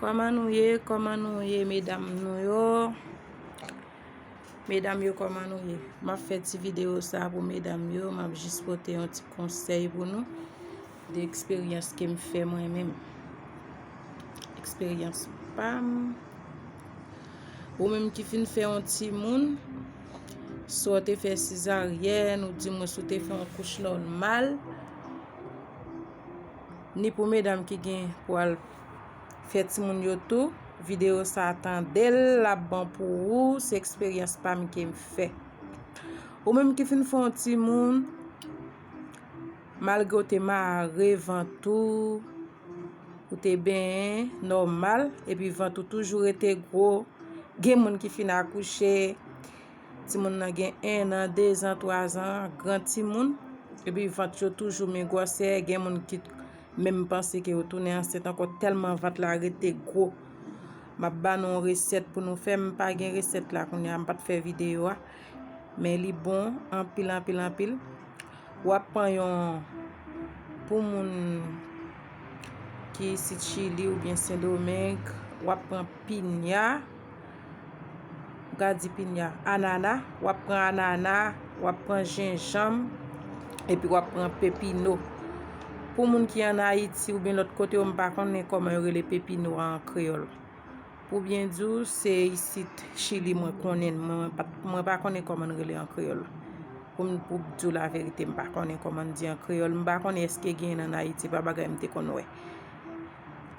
Koman nou ye koman nou ye medam nou yo Medam yo koman nou ye Map fè ti video sa pou medam yo Map jis pote yon ti konsèy pou nou De eksperyans kem fè mwen menm Eksperyans pam Ou menm ki fin fè yon ti moun Si w te fè sizaryèn ou di mwen si w te fè yon kouch nòmal ni pou medam ki gen pou al fè timoun yo tou video sa tandel lap bon pou ou se eksperyans pam kem fè ou menm ki fin fon timoun malgre ou te mare vant ou ou te benyen nòmal epi vant ou toujou rete gro gen moun ki fin akouche Timoun nan gen 1 an, 2 zan, 3 zan, gran timoun. Epi vant yo toujou men gwòsè, gen moun ki menm panse ke yo tounen ansent ankò tèlman vant la rete gwo. M ap ba nou yon resèt pou nou fè, m pa gen resèt la kounye a, m pa t fè videyo a. Men li bon anpil anpil anpil. W ap pran yon, pou moun ki isit Chili oubyen Sendomeng, w ap pran pinya. Ga di pinya. Anana. Wap pran anana. Wap pran jenjanm. Epi wap pran pepino. Pou moun ki an Ayiti oubyen lòt kote yo m pa konnen kòman yo rele pepino an kreyòl. Pou byen di w se isit chili mwen konnen l. Mwen pa konnen kòman l rele an kreyòl. Pou m pou di w laverite m pa konnen kòman l di an kreyòl. M pa konnen eske genyen l an Ayiti. Pa bagay m te konn wè.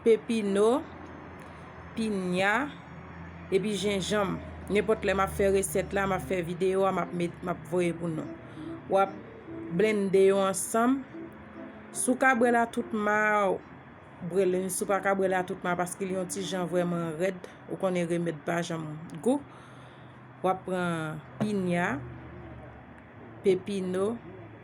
pepino, pinya, epi jenjanm. Nenpòt lè m ap fè resèt la, m ap fè videyo a, m ap voye pou nou. W ap blennde yo ansanm. Si w ka bwè l a tout ma, bwè l. Si w pa ka bwè l a tout ma, paske li yon ti jan vrèman rèd, ou konnen remèd pa janm gou. W ap pran pinya, pepino.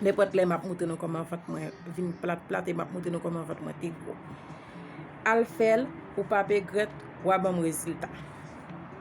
Nenpòt lè map moutre nou kòman vant mwen vin plat plat e map moutre nou kòman vant mwen te gwo. Al fèl ou pap egrèt wa banm rezilta.